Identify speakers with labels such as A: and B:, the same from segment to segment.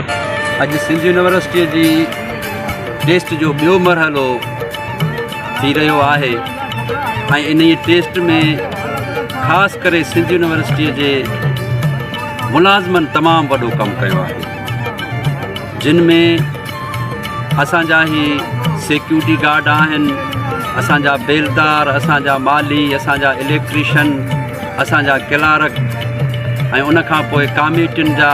A: اڄ سنڌ يونيورسٽيء جي ٽيسٽ جو ٻيو مرحلو ٿي رهيو آهي ۽ انهيء ٽيسٽ ۾ خاص ڪري سنڌ يونيورسٽيء جي ملازمن تمام وڏو ڪم ڪيو آهي جن ۾ اسان جا هي سيڪيورٽي گارڊ آهن اسان جا بيلدار اسان جا مالي اسان جا اليڪٽريشن اسان جا ڪلارڪ ۽ ان کان پوء ڪاميٽين جا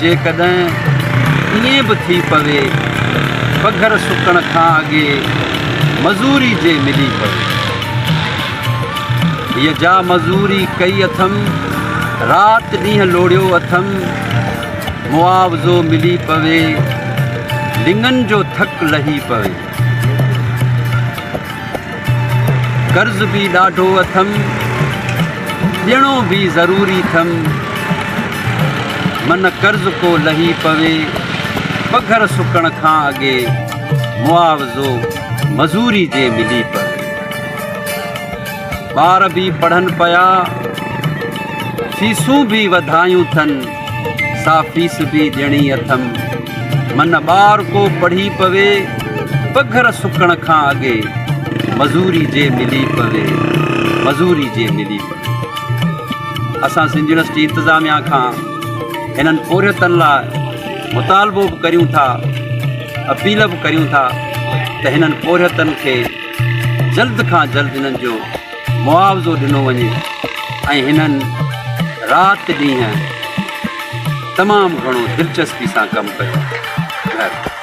A: جيڪڏهن ائين به ٿي پوي ته پگهر سڪڻ کان اڳي مزوري جي ملي پوي. هيء جا مزوري ڪئي اٿم، رات ڏينهن لوڙهيو اٿم، معاوضو ملي پوي، لڱن جو ٿڪ لهي پوي. قرض به ڏاڍو اٿم ڏيڻو به ضروري ٿم من قرض ڪو لهي پوي پگهر سڪڻ کان اڳي معاوضو مزوري جي ملي پوي ٻار به پڙهن پيا فيسون به وڌايون ٿن سا فيصدي ڏيڻي اٿم. من ٻار ڪو پڙهي پوي، پگهر سڪڻ کان اڳي، مزوري جي ملي پوي، مزوري جي ملي پوي. اسان سنڌ يونيورسٽي انتظاميا کان هنن پورهيتن لاء مطالبو به ڪريون ٿا، اپيل به ڪريون ٿا ته هنن پورهيتن کي جلد کان جلد هنن جو معاوضو ڏنو وڃي ۽ هنن رات ڏينهن تمام گهڻو دلچسپي سان ڪم ڪيو آهي.